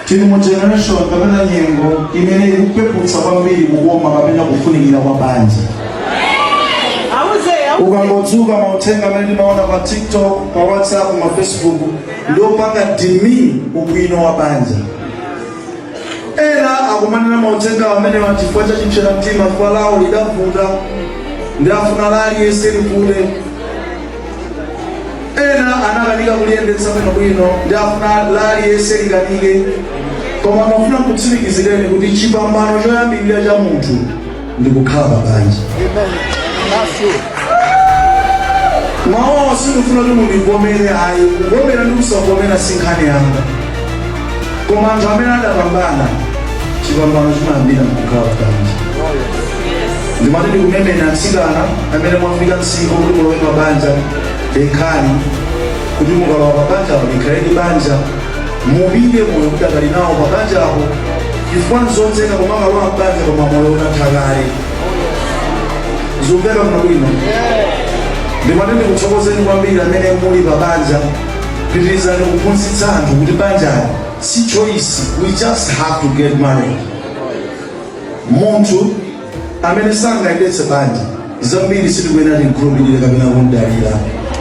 tili mu generation kapena nyengo imene ikupeputsa kwambiri kukoma kapena kufunikira kwa banja ukangodzuka mauthenga amene ndimaona pa tiktok pa whatsapp ma facebook ndiopanga demean ubwino wa banja ena akumanena mauthenga amenewa chifukwa cha chipsera mtima chifukwa lawo lidavuta ndi afuna la aliyense livute ena anakanika kuliyendetsa bwinobwino ndi afuna la aliyense likanike koma ndimafuna nkutsimikizireni kuti chipambano choyambirira cha munthu ndi kukhala pa banja mawu awa sindikufuna kuti mundivomere ayi kuvomera ndi kusavomera si nkhani yanga koma anthu amene adapambana chipambano chimayambira mkukhala pa banja ndimati ndikumemeni atsikana amene mwafika msinkhu kuti mulowe pa banja dekhani kuti mukalowa pa banjapo likhaledi banja mupite moyo mudakali nawo pa banjapo chifukwa nzotheka kumakalowa mbanja koma moyo unatha kale zikumveka bwino ndimati ndikuthokozeni kwambiri amene muli pa banja pitirizani kuphunzitsa anthu kuti banjali si choice we just have to get married munthu amene sangayendetse banja zambiri sitikuyenera timkhulupirire kapena kumdalira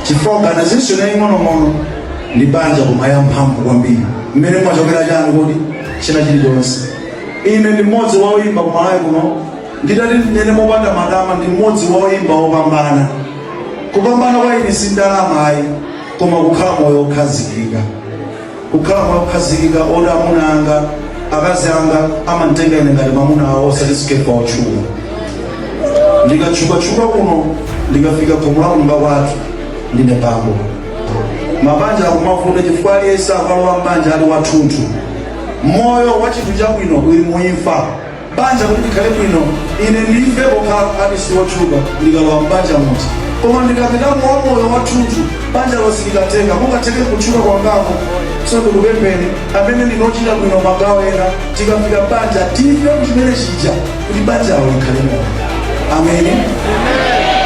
chifukwa organization yaying'onong'ono ndi banja koma ya mphamvu kwambiri mmene mumachokera chani kuti china chilichonse ine ndi mmodzi wa oyimba kumalawi kuno Nditati ndinene mopanda matama ndi mmodzi wa oyimba opambana. Kupambana kwa ine si ndalama ayi koma kukhala moyo okhazikika. Kukhala moyo okhazikika oti amuna anga, akazi anga amanditenga ine ngati mwamuna awo osati Skeffa otchuka. Ndikatchukatchuka kuno ndikafika khomo la kunyumba kwathu ndine bambo. Mabanja akumavuta chifukwa aliyense amalowa m'banja ali wathunthu. Moyo wa chinthu chabwino uli mu imfa. banja kuti likhale bwino ine ndife pokhala artist wotchuka ndikalowa m'banja muti koma ndikapitamo wa moyo wathunthu banja lonse likatenga kungatheke kutchuka kwangako so ndikupempheni amene tikuchita bwino magawo ena tikafika m'banja tife kuchimene chija kuti banjalo likhale moyo amen